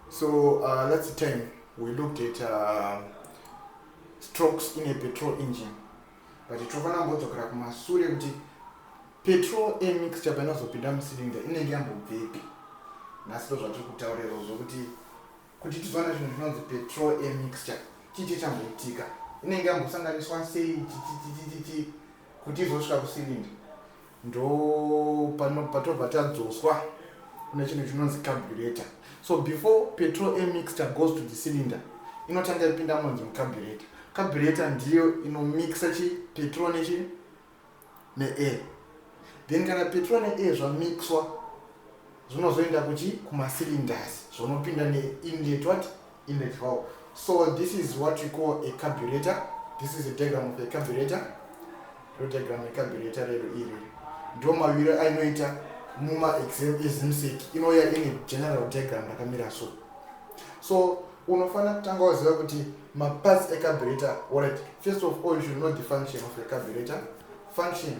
So uh, that's the time we looked at uh, strokes in a petrol engine but tinofanira kumbodzokera kumasure kuti petrol emixture painozopinda mucylinder inenge yambobvepi nhasi ndo zvatiri kutaurirawo zvokuti kuti tizoona zvinhu zvinonzi petrol emixture chichi chamboitika inenge yambosanganiswa sei chichichichichichi kuti izosvika kucylinder ndo pano patobva tadzoswa kune chinhu chinonzi carburator so before petrol a mixture goes to the cylinder inotanga ipinda munzi mucarburator carburator ndiyo inomixa chi petrol nechi neair then kana petrol neair zvamixwa zvinozoenda kuchi kumacylinders zvonopinda neinlet what in a valve so this is what we call a carburetor this is a diagram of a carburetor ro diagram yecarburetor rero iri ndo maviro ainoita muma exam ezimsec inouya ine general diagram rakamira so so unofanira kutanga waziva kuti maparts ecarburetor orit first of all you should know the function of a carburetor function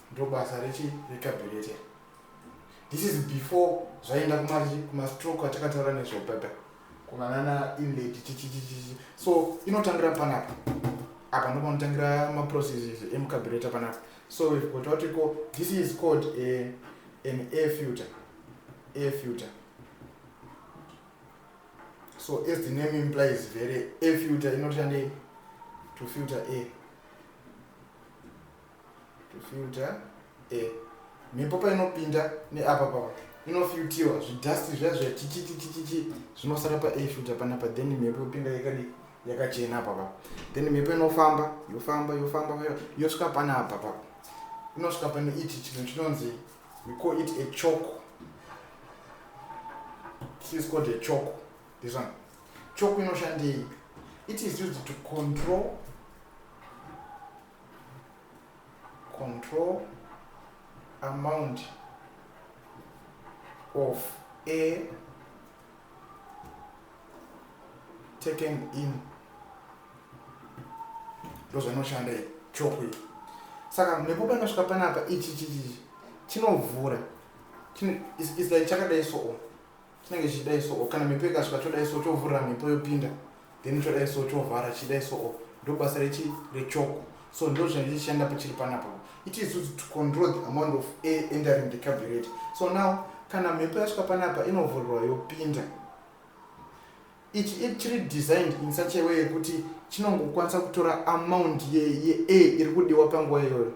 ndobasa rechi recabulator this is before zvaenda kumachi kumastroke atakataura nezvobaba kuvanana inlady chichichichichi so inotangira panapa apa ndopanotangira maprocesses emucabulator panapa so we've got what we call this is called a, an air filter air filter so as the name implies very air filter inotoshandei to filter air kufilta eh, mhepo painopinda neapa papa inofiltiwa zvidhasti zviya zviya chichichichichichi zvinosara paair filta panapa then mhepo yopinda yakadi yakachena apa papa then mhepo inofamba yofamba yofamba yosvika panapa papa inosvika pane ichi chinhu chinonzi we call it a chok this is called a chok this one chok inoshandei it is used to control control amount of a taken in ndozvainoshanda chopu iyi saka nekuba ndasvika panapa ichi chichichi chinovhura chakadai soo chinenge chichidai soo kana mhepo ikasvika chodai so chovhurira mhepo yopinda then chodai so chovhara chidai soo ndobasa rechi rechoko so ndo zvinenge chichishanda pachiri panapa it is used to control the amount of air entering the carburetor so now kana mhepo yasvika panapa inovhurirwa yopinda ichi chiri designed in such a way yekuti chinongokwanisa kutora amount yeair iri kudiwa panguva iyoyo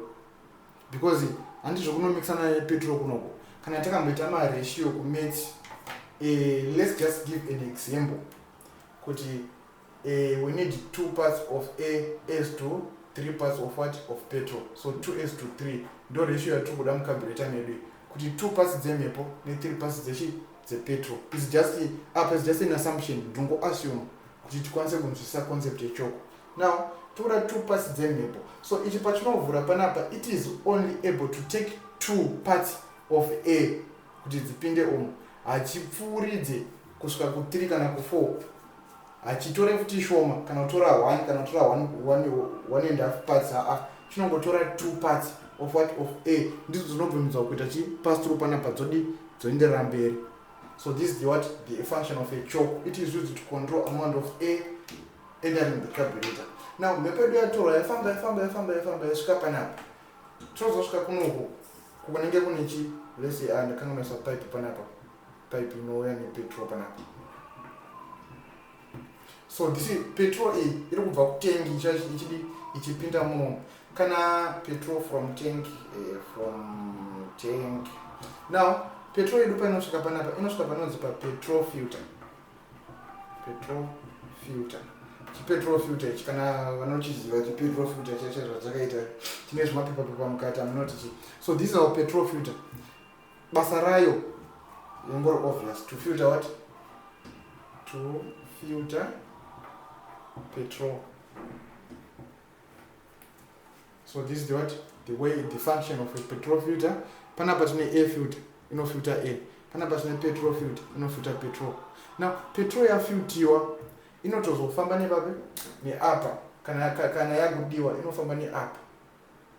because handi zvekunomixana nepetro kunoko kana takamboita maratio kumeti uh, eh, let's just give an example kuti uh, we need two parts of a as to three parts of what of petrol so two as to three ndo ratio yatiri kuda mukabureta medu kuti two parts dzemhepo nethree parts dzechi dzepetrol its just apa its just an assumption ndongo assume kuti tikwanise kunzwisisa concept yechoko now tora two parts dzemhepo so ichi pachinovhura panapa it is only able to take two parts of air kuti dzipinde umu hachipfuuridze kusvika kuthree kana kufour hachitore futi shoma kana kutora one kana kutora one and half parts aa chinongotora two parts of what of air ndidzo dzinobvumidzwa kuita chi pass through panapa dzodi dzoenderera mberi so this is the what the function of a chalk it is used to control amount of air enda rimbe carburetor now mhepo yedu yatorwa yaifamba yaifamba yaifamba yaifamba yasvika panapa tozosvika kunoku kunenge kune chi lese a ah, ndakanga maisa pipe panapa pipe inouya nepetrol panapa so this is petrol iyi iri kubva kutengi ichidi ichipinda muno kana petrol from tank eh, from tank now petrol yedu painosvika panapa inosvika panonzi papetrol filter petrol filter chipetrol filter ichi kana vanochiziva chipetrol filter chacho zvachakaita chine zvimapepa pepa mukati amunoti chi so this is our petrol filter basa rayo yongori obvious to filter what to filter petrol so this is the what the way the function of a petrol filter panapa tine air filter inofilter air panapa tine petrol filter inofilter petrol now petrol yafiltiwa inotozofamba nevapi neapa kana, kana yakudiwa inofamba neapa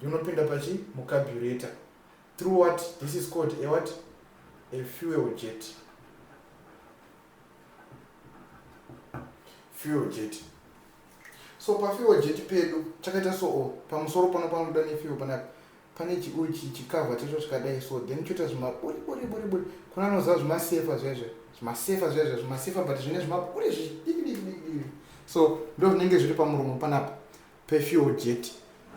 inopinda pachi mucaburator through what this is called a what a fuel jet fuel jet so pafiwa jeti pedu chakaita soo pamusoro pano panobuda nefiwa panapa pane chiuchi chikavha chacho chikadai so then choita zvimaburiburiburiburi kuna anoziva zvimasefa zvezve zvimasefa zvezve zvimasefa but zvine zvimaburi zvidikidikidikidii so ndo zvinenge zviri pamuromo panapa pefiwa jeti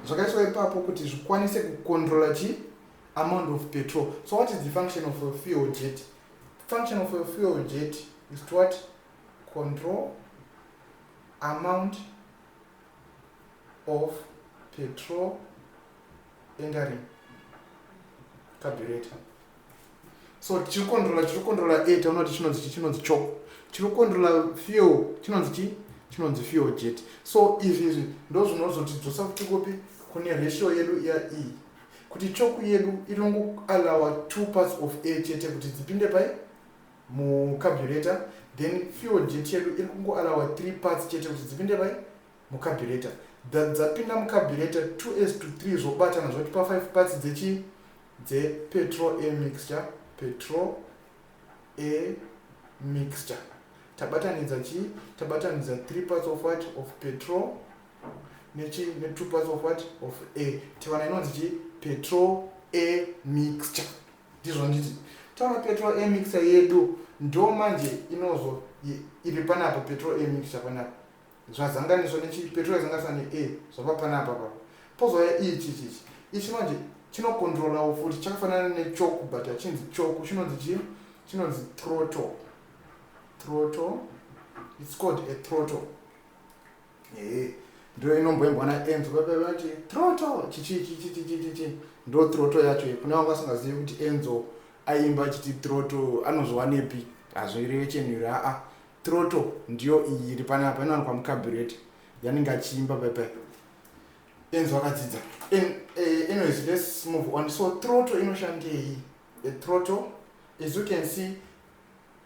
zvakaiswa ipapo kuti zvikwanise kucontrola chi amount of petrol so what is the function of a fuel jet function of a fuel jet is to what control amount of petrol entering carburetor so chiri controla chiri controla e taona kuti chinonzi chi chinonzi choko chiri controla fuel chinonzi chi chinonzi fuel jet so izvi izvi ndo zvinozotidzosa kuti kupi kune ratio yedu iya iyi kuti choku yedu inongoalawa two parts of a chete kuti dzipinde pai mu carburetor then fuel jet yedu iri kungo alawa three parts chete kuti dzipinde pai mu carburetor that dzapinda mu carburetor two as to three zvobatana zvotipa five parts dzechi dze petrol a mixture petrol a mixture tabatanidza chi tabatanidza three parts of what of petrol nechi ne two parts of what of a tiwana inonzi chi petrol a mixture Ndizvo nditi taura petrol emixer yedu ndo manje inozo iri panapa petrol emixer panapa zvazanganiswa nechi petrol yazanganiswa ne a zvava panapa papa pozouya ichi chichi ichi manje chinokontrolawo futi chakafanana nechoku but hachinzi choku chinonzi chii chinonzi troto troto its called a troto Ehe, ndiyo inomboimbwa naEnzo baba vati troto chichi chichi chichi chichi ndo troto yacho iyi. Kune vanga vasingazivi kuti Enzo aimba achiti troto anozviwanepi hazvireve chenhu iri aa troto ndiyo iyi iri panapa inowanikwa mukabureti yanenge achiimba pepe Enzo akadzidza En- eh, anyways let's move on so troto inoshandei a troto as you can see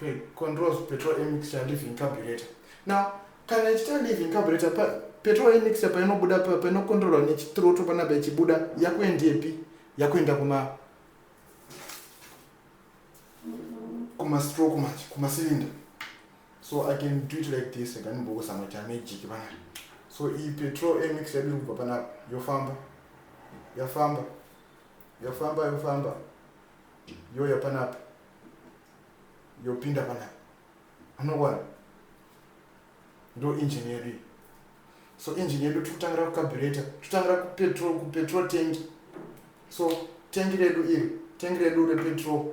pe controls petrol emixture living carburetor now kana ichita living carburetor pa petrol emixture painobuda pa painokontrolwa nechitroto panapa ichibuda yakuendepi yakuenda kuma kuma stroke manje kuma cylinder so i can do it like this ndikanimbokuzama kuita magic panapa so iyi petrol emix yadiri kubva panapa yofamba yafamba yafamba yofamba yoya panapa yopinda panapa unogona ndo engine yedu iyi so engine yedu tikutangira kucarbureta tikutangira kupetrol kupetrol tanki so tanki redu iri tanki redu repetrol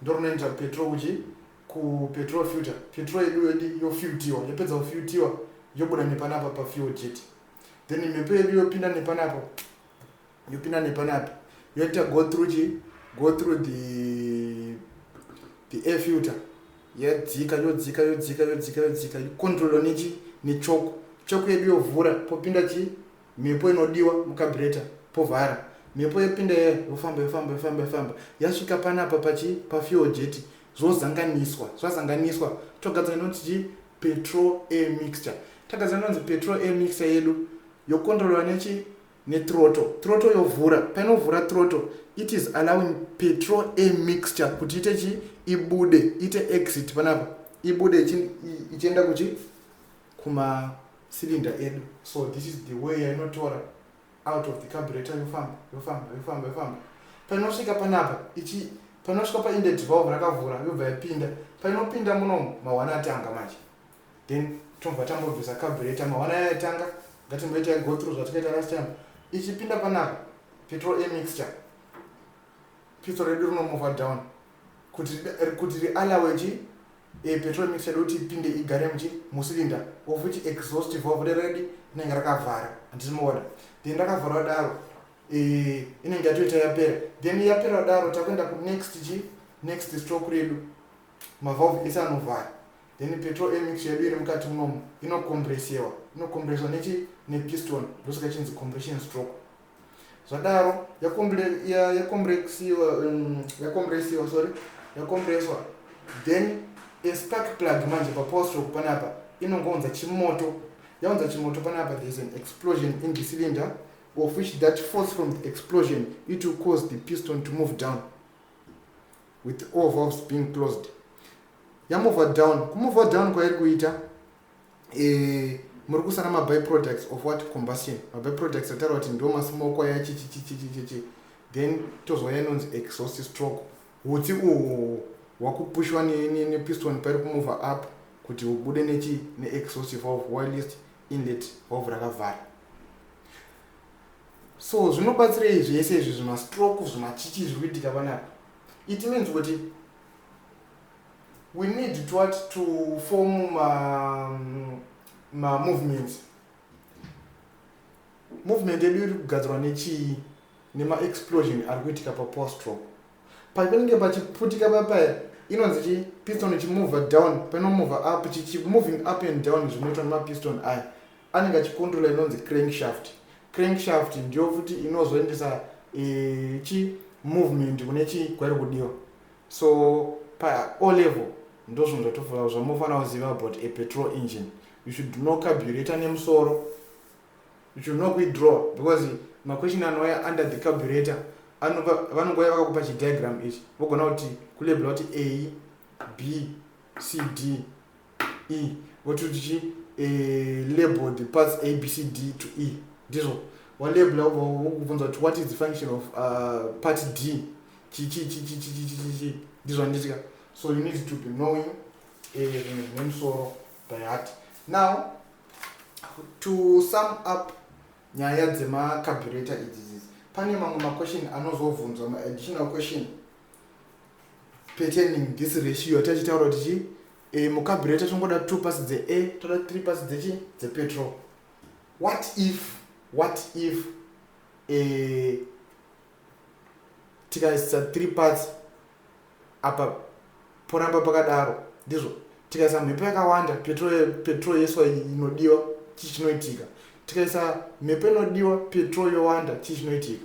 ndorinoenda petrol kuchi kupetrol filter petrol yedu yedi yofiltiwa yapedza kufiltiwa yobuda nepanapa pafuel jet then mhepo yedu yopinda nepanapa yopinda nepanapi yoita go through chi go through the the air filter yadzika yodzika yodzika yodzika yodzika icontrolo nechi nechoko choko yedu yovhura popinda chi mhepo inodiwa mukabreta povhara mhepo yopinda iya yofamba yofamba yofamba yofamba yasvika panapa pachi pafuel jeti zvozanganiswa zvazanganiswa togadzira inonzi chi petrol air mixture tagadzira inonzi petrol air mixture yedu yocontrolwa nechi nethrottle throttle yovhura painovhura throttle it is allowing petrol a mixture kuti ite chi ibude ite exit panapa ibude ichienda kuchi kuma cylinder edu so this is the way yainotora out of the carburator yofamba yofamba yofamba yofamba painosvika panapa ichi painosvika painde 12 rakavhura yobva yapinda painopinda munomu mawana atanga manje then tobva tambobvisa carburetor mawana aya yatanga ngatimboita go through zvatikaita last time ichipinda panapa petrol a mixture petrol redu rinomova down kuti kuti rialawe chi e petrol mixture doti ipinde igare muchi musilinda of which exhaust valve reredi inenge rakavhara handinoona then rakavharwa daro e, inenge yatoita yapera then yapera daro takuenda kunext chi next stroke redu mavalve ese anovhara then petrol emix yedu iri mukati munomu inokomburesewa inokombureswa nechi nepiston ndosaka chinzi compression stroke zvadaro yakomburesewa um, yakomburesewa sorry yakombureswa then espark plug manje papower stroke panapa inongounza chimoto yaunza chimoto panapa there is an explosion in the cylinder of which that force from the explosion it will cause the piston to move down with all valves being closed yamover down kumover down kwairi kuita eh, muri kusana maby products of what combustion maby products ataura kuti ndo masmoko aya chichichichichichi then tozwa yanonzi exhaust stroke hutsi uhwo hwakupushwa nepiston ne, ne pairi kumover up kuti hubude nechi neexhaust valve whilst inlet valve rakavhara so zvinobatsirei zvese izvi zvimastroke zvimachichi zviri kuitika panapa it means kuti we need to what to form mamovements ma movement yedu iri kugadzirwa nechii nemaexplosion ari kuitika papostro painenge pachiputika papaya inonzi chi piston chimovha down panomovha up chichimoving up and down zvinoitwa nemapiston aya Anenge achikundula inonzi crankshaft. Crankshaft ndiyo futi inozoendesa e, chi movement kune chi kwairi kudiwa. So pa O level ndozvinhu zvatofura zvamofanira kuziva about a petrol engine. You should know carburetor nemusoro. You should know kuidraw because maquestion anouya under the carburetor vanongouya vakakupa chidiagram ichi vogona kuti kulebula kuti a b c d e wototi chi eh, label the parts a b c d to e ndizvo walabula ubva wokubvunza kuti what is the function of uh, part d chichichichichichichichi ndizvo anditika so you need to be knowing eh, zvinhu zvine musoro by heart now to sum up nyaya dzemacarbureta idzi idzi pane mamwe maquestion anozobvunzwa maadditional question patterning this ratio yatachitaura kuti chii e, mucaburator tongoda two pass dzeair toda three pass dzechii dzepetrol what if what if e, tikaisa three parts apa poramba pakadaro ndizvo tikaisa mhepo yakawanda petrol yeswa inodiwa chii chinoitika tikaisa mhepo inodiwa petrol yowanda chii chinoitika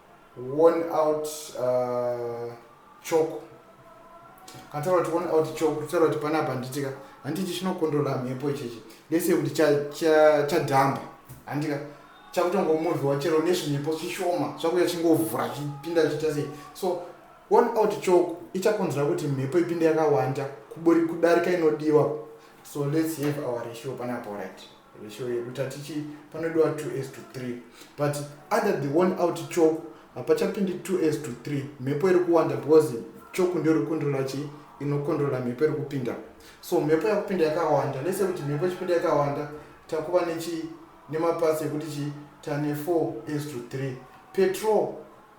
worn out uh, choko kana taura kuti worn out choko taura kuti pana apa handitika handiti chinokondrola mhepo ichechi lese kuti chadhamba handika chakutongomovhiwa chero nezvinyepo chishoma zvakuya chingovhura chipinda chiita sei so worn out choko ichakonzera kuti mhepo ipinde yakawanda kudarika inodiwa so let's have our ratio panapo right ratio yedu tatichi panodiwa 2 as to 3 but under the one out choku hapachapindi 2 as to 3 mhepo iri kuwanda because choku ndio rikukondrola chii inokondrola mhepo iri kupinda so mhepo yakupinda yakawanda lese kuti mhepo ichipinda yakawanda takuva nechi nemapasi ekuti chii tane 4 as to 3 petrol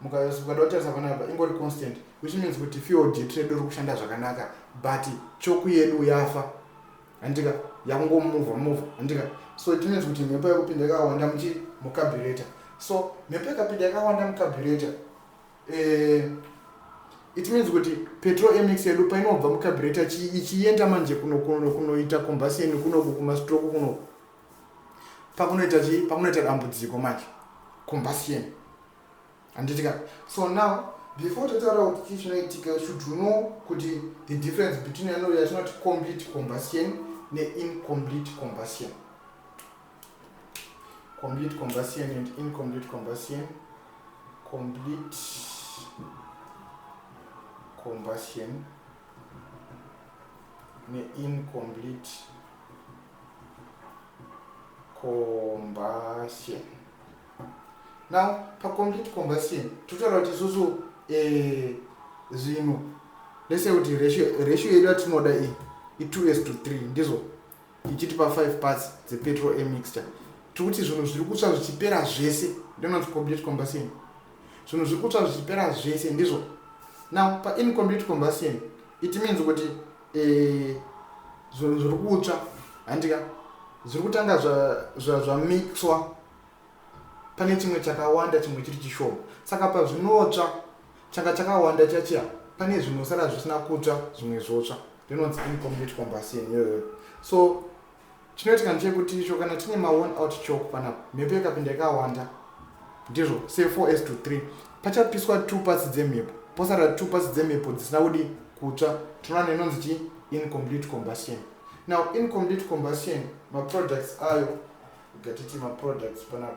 mukayosukada kutarisa panapa ingori constant which means kuti field yedu iri kushanda zvakanaka but choku yedu yafa handika yakungomuvha muvha handika so it means kuti mhepo yakupinda yakawanda muchi mucaburator so mhepo yakapinda yakawanda mucaburator eh, it means kuti petrol emix yedu painobva mucaburator ichienda manje kunoita combustion kunoku kumastroke kunoku pakunoita chii pakunoita dambudziko manje combustion handiti ka so now before tataura kuti chii chinoitika should you know kuti the difference between yano yatinoti complete combustion neincomplete combustion complete combustion and incomplete combustion complete combustion neincomplete combustion now pacomplete combustion totaura kuti isusu eh, zvinhu lese kuti ratio yedu yatinoda iyi i2 s to 3 ndizvo ichitipa 5 parts dzepetrol emixture tiri kuti zvinhu zviri kutsva zvichipera zvese ndinonzi complete combustion zvinhu zviri kutsva zvichipera zvese ndizvo now paincomplete combustion it means kuti eh, zvinhu zviri kutsva handika zviri kutanga zvamixwa zwa, zwa pane chimwe chakawanda chimwe chiri chishoma saka pazvinotsva changa chakawanda chachia pane zvinosara zvisina kutsva zvimwe zvotsva rinonzi incomplete combustion yoyo so chinoitika ndechekuti icho kana tine maone out chok pana mhepo yakapinda yakawanda ndizvo se 4 s to 3 pachapiswa two pasi dzemhepo posara two pasi dzemhepo dzisina kudi kutsva tinoona inonzi chi incomplete combustion now incomplete combustion maproducts ayo Gatiti ma products pana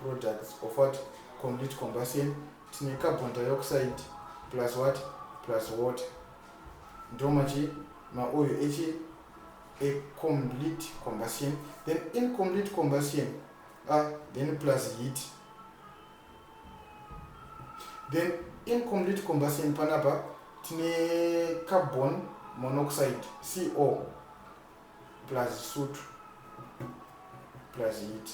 products of what complete combustion tine carbon dioxide plus what plus water ndo machi maoyo echi a complete combustion then incomplete combustion uh, then plus heat then incomplete combustion panapa tine carbon monoxide co plus sutu plus heat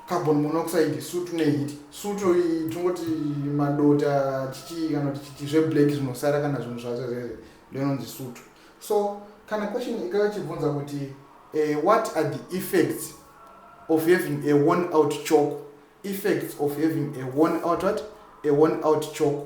carbon monoxide sutu neheat sutu tongoti madota chichii kana kuti chichii zveblack zvinosara kana zvinhu zvacho zvese ndinonzi sutu so kana question ikava chibvunza kuti uh, what are the effects of having a one out chalk effects of having a one out what a one out chalk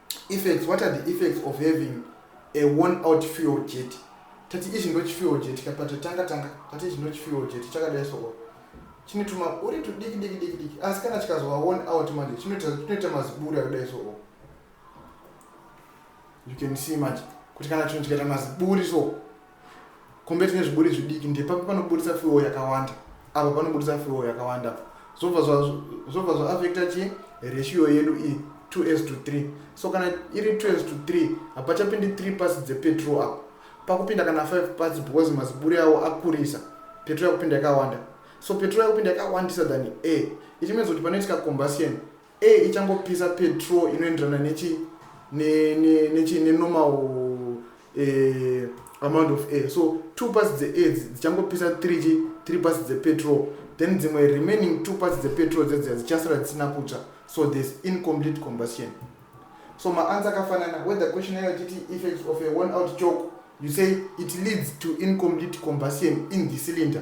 Effects, what are the effects of having a worn out fuel jet? Tati izvi ndo chifuel jet ka patatanga tanga tati izvi ndo chifuel jet chakadai soo chine tuma uri tudiki diki diki diki asi kana chikazova worn out manje chinoita chinoita maziburi akadai soo you can see manje kuti kana chinhu chikaita maziburi so compared nezviburi zvidiki ndepapi panoburitsa fuel yakawanda apa panoburitsa fuel yakawanda apa zvobva zvobva zvaafekta chii ratio yedu iyi 2 s to 3 so kana iri 2 s to 3 hapachapindi 3 pasi dzepetrol apo pakupinda kana 5 pasi because maziburi awo akurisa petrol yakupinda yakawanda so petrol yakupinda yakawandisa than a ichimenza kuti panoitika combustion a ichangopisa petrol inoenderana nechi nechi nenormal eh, amount of air so two parts dzeair dzichangopisa three chi three parts dzepetrol then dzimwe remaining two parts dzepetrol dzedziya dzichasara dzisina kutsva so there's incomplete combustion so maansa akafanana whether question ayo titi effects of a one out chalk you say it leads to incomplete combustion in the cylinder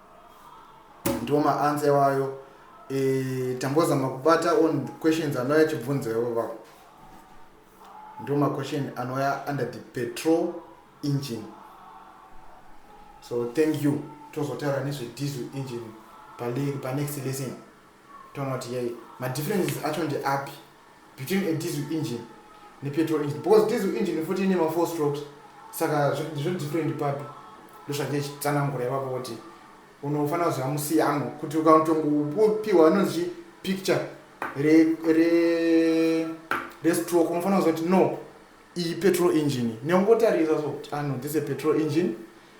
ndiwo maansa iwayo e, tambozama kubata on questions anouya achibvunza ivo vavo ndiwo maquestion anouya under the petrol engine so thank you tozotaura nezvediesel engine panext lesson toona kuti yei madifferences acho ndeapi between a diesel engine nepetrol engine because diesel engine futi ine mafour strokes saka zvodifferent papi ndosvake chitsanangura ivavo kuti unofanira kuziva musiyano kuti ukanotongopiwa anonzi picture restroke unofanira kuziva kuti no iyi petrol engine neungotarisa so ano ah, this a petrol engine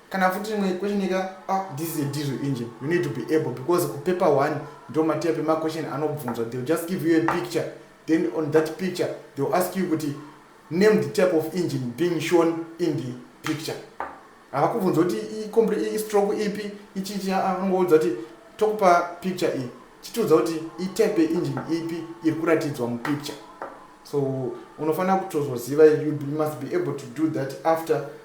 kana futi imwe question ika ah, this is a diesel engine you need to be able because kupaper one ndo matiya pemaquestion anobvunzwa theyll just give you a picture then on that picture theyll ask you kuti name the type of engine being shown in the picture havakubvunza kuti istroke ipi ichichi anongoudza kuti tokupa picture iyi chitiudza kuti itype yeengine ipi iri kuratidzwa mupicture so unofanira kutozoziva you must be able to do that after